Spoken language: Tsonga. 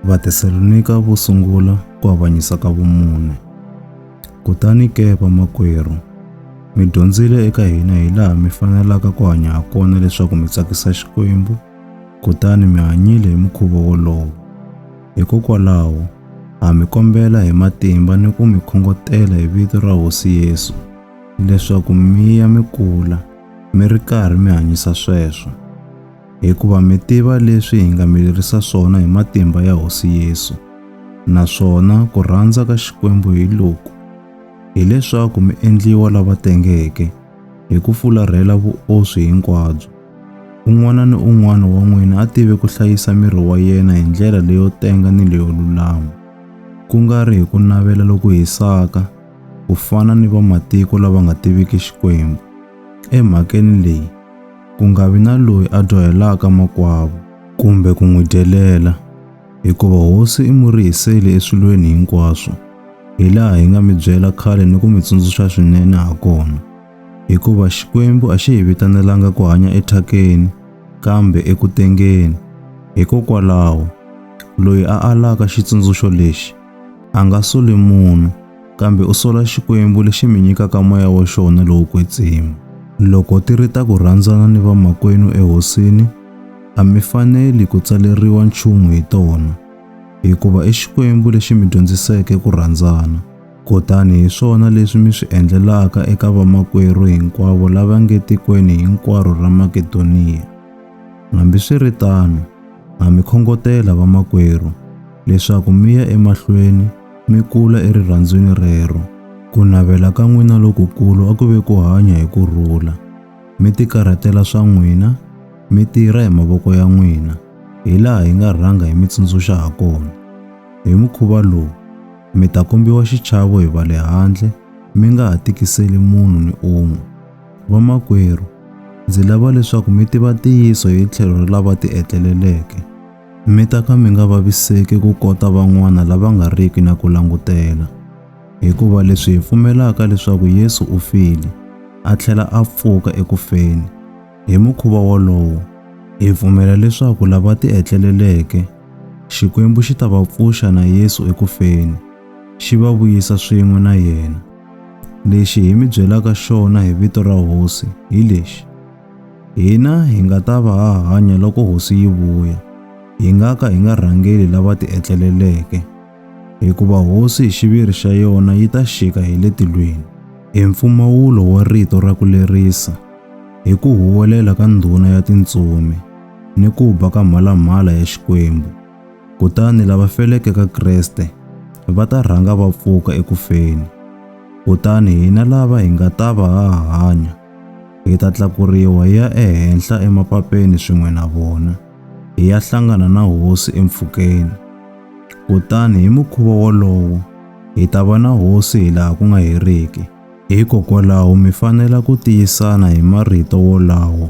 Vathesalonika vo sungula ku avanyisa ka vumune. Kutani ke vamakwerhu, mi dyondzile eka hina hi laha mi fanelaka ku hanya ha kona leswaku mi tsakisa Xikwembu, kutani mi hanyile hi mukhuva wolowo. Hikokwalaho, ha mi kombela hi matimba ni ku mi khongotela hi vito ra Hosi Yesu leswaku mi ya mi kula mi ri karhi mi hanyisa sweswo. hikuva mi tiva leswi hi nga mi lerisa swona hi matimba ya Hosi Yesu, naswona ku rhandza ka Xikwembu hi loku, hileswaku mi endliwa lava tengeke hi ku fularhela vuoswi hinkwabyo. Un'wana ni un'wana wa n'wina a tive ku hlayisa miri wa yena hi ndlela leyo tenga ni leyo lulama, ku nga ri hi ku navela loku hisaka, ku fana ni vamatiko lava nga tiviki Xikwembu. Emhakeni leyi, ku nga vi na loyi a dyohelaka makwavo kumbe ku n'wi dyelela, hikuva hosi i murihiseli eswilweni hinkwaswo, hi laha hi nga mi byela khale ni ku mi tsundzuxa swinene ha kona. Hikuva Xikwembu a xi hi vitanelanga ku hanya ethyakeni, kambe eku tengeni. Hikokwalaho, loyi a alaka xitsundzuxo lexi, A nga soli munhu, kambe u sola Xikwembu lexi mi nyikaka moya wa xona lowo kwetsima. Loko ti ri ta ku rhandzana ni vamakwenu eHosini, a mi faneli ku tsaleriwa nchumu hi tona, hikuva i Xikwembu lexi mi dyondziseke ku rhandzana. Kutani hi swona leswi mi swi endlelaka eka vamakwerhu hinkwavo lava nge tikweni hinkwaro ra Makedoniya. Hambiswiritano, Ha mi khongotela vamakwerhu leswaku mi ya emahlweni mi kula erirhandzwini rero. Ku navela ka n'wina lokukulu a ku ve ku hanya hi ku rhula, mi tikarhatela swa n'wina, mi tirha hi mavoko ya n'wina, hilaha hi nga rhanga hi mi tsundzuxa hakona. Hi mukhuva lowu, mi ta kombiwa xichavo hi va le handle, mi nga ha tikiseli munhu ni un'we. Vamakwerhu, ndzi lava leswaku mi tiva ntiyiso hi tlhelo ra lava tietleleleke, mi ta ka mi nga vaviseki ku kota van'wana lava nga riki na ku langutela. Hikuva leswi hi pfumelaka leswaku Yesu u file, a tlhela a pfuka eku feni, hi mukhuva wolowo, hi pfumela leswaku lava tietleleleke, Xikwembu xi ta va pfuxa na Yesu eku feni, xi va vuyisa swin'we na yena. Lexi hi mi byelaka xona hi vito ra hosi hi lexi, hina hi nga ta va ha hanya loko hosi yi vuya, hi nga ka hi nga rhangeli lava tietleleleke, hikuva hosi hi xiviri xa yona yi ta xika hi le tilweni. I mpfumawulo wa rito ra ku lerisa hi ku huwelela ka ndhuna ya tintsumi ni ku ba ka mhalamhala ya Xikwembu. Kutani lava feleke ka Kreste va ta rhanga va pfuka eku feni. Kutani hina lava hi nga ta va ha hanya hi ta tlakuriwa hi ya ehenhla emapapeni swin'we na vona, hi ya hlangana na Hosi empfhukeni. Kutani hi mukhuva wolowo hi ta va na Hosi hi laha ku nga heriki. Hikokwalaho mi fanela ku tiyisana hi marito wolawo.